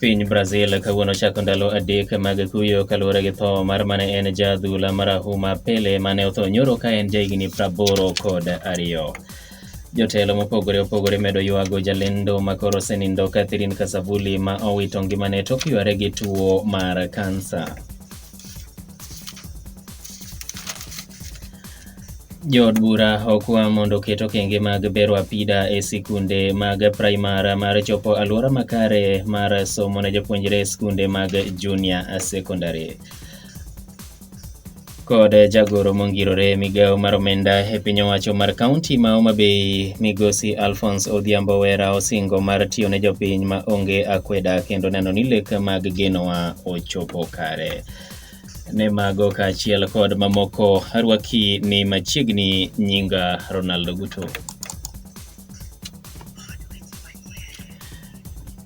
Piny Brazil kawuono chako ndalo adek mag kuyo kaluwore gi tho mar mane en ja adhula marahuma Pele mane otho nyoro ka en jahigni praboro kod ariyo. Jotelo mopogore opogore medo ywago jalendo makoro osenindo Catherine Kasavuli ma owito ngimane tok yware gi tuo mar kansa. Jood bura okwa mondo oket okenge mag bero apida e sikunde mag primar mar chopo alwora makare mar somo ne jopuonjre e sikunde mag junior secondary kod jagoro mongirore migawo mar omenda e piny owacho mar kaunti ma Homa Bay migosi Alphonse Odhiambo Wera osingo mar tiyo ne jopiny ma onge akweda kendo neno ni lek mag genowa ochopo kare. ne mago kaachiel kod mamoko arwaki ni machiegni nyinga Ronaldo Guto.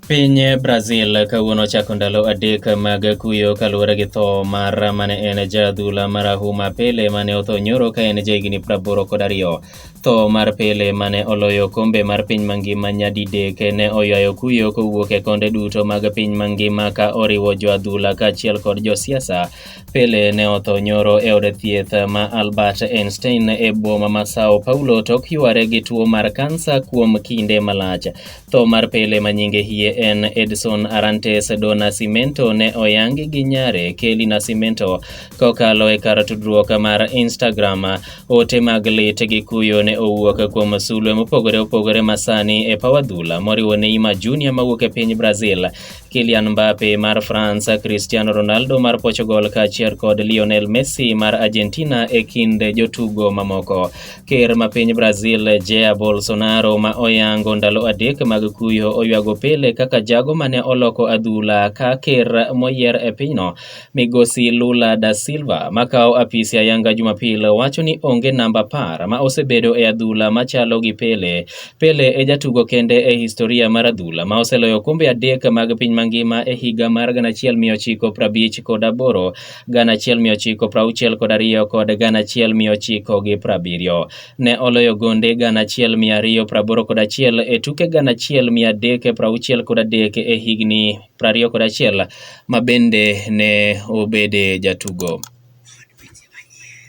Piny Brazil kawuono chako ndalo adek mag kuyo kaluwore gi tho mar mane en ja adhula marahuma Pele mane otho nyoro ka en ja higni praboro kod ariyo. Tho mar Pele ma ne oloyo okombe mar piny mangima nyadidek ne oywayo kuyo kowuok e konde duto mag piny mangima ka oriwo joadhula kaachiel kod josiasa. Pele ne otho nyoro e od thieth ma Albert Einstein e boma ma Sao Paulo tok yware gi tuo mar kansa kuom kinde malach. Tho mar Pele ma nyinge hie en Edson Arantes do Nascimento ne oyangi gi nyare Kelly Nascimento kokalo e kar tudruok mar Instagram. Ote mag lit gi kuyo ne owuok kuom sulwe mopogore opogore masani e paw adhula moriwo Neymar Junior mawuok e piny Brazil, Kylian Mbappe mar France, Cristiano Ronaldo mar Portugal kaachiel kod Lionel Messi mar Argentina e kind jotugo mamoko. Ker ma piny Brazil Jair Bolsonaro ma oyango ndalo adek mag kuyo oywago Pele kaka jago mane oloko adhula ka ker moyier e pinyno Migosi Lula da Silva makawo apis ya Yanga Jumapil wacho ni onge namba par ma osebedo e adhula machalo gi Pele. Pele e jatugo kende e historia mar adhula ma oseloyo kombe adek mag piny mangima e higa mar 1950 kod aboro, 1960 kod ariyo kod 1970. Ne oloyo gonde 1281 e tuke 1363 e higni prariyo kod achiel ma bende ne obede jatugo.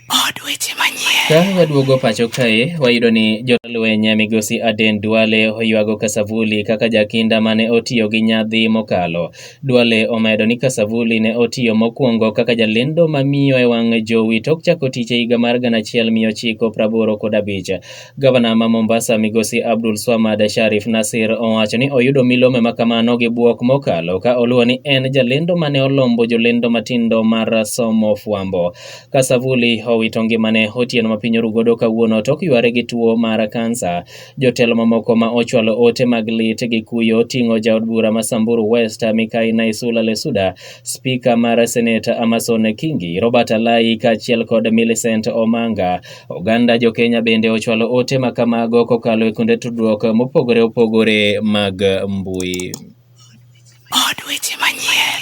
Od weche manyien. Ka waduogo pacho kae, wayudo ni jolweny migosi Aden Duale oywago Kasavuli kaka jakinda mane otiyo gi nyadhi mokalo. Duale omedo ni Kasavuli ne otiyo mokwongo kaka jalendo mamiyo e wang' jowi tok chako tich e higa mar gana achiel mia ochiko praboro kod abich. Gavana ma Mombasa migosi Abdul Swamad Sharif Nasir owacho ni oyudo milome ma kamano gi bwok mokalo ka oluwo ni en jalendo mane olombo jolendo matindo mar somo fwambo. Ka Savuli owito ngimane otieno ma piny oru godo kawuono tok yware gi tuo mar kansa, jotelo mamoko ma ochwalo ote mag lit gi kuyo ting'o jaod bura ma Samburu West Mikai Naisula Lesuda, spika mar Senate Amason Kingi, Robert Alai kaachiel kod Millicent Omanga Oganda jo-Kenya bende ochwalo ote ma kamago kokalo e kuonde tudruok mopogore opogore mag mbui. Od weche manyien.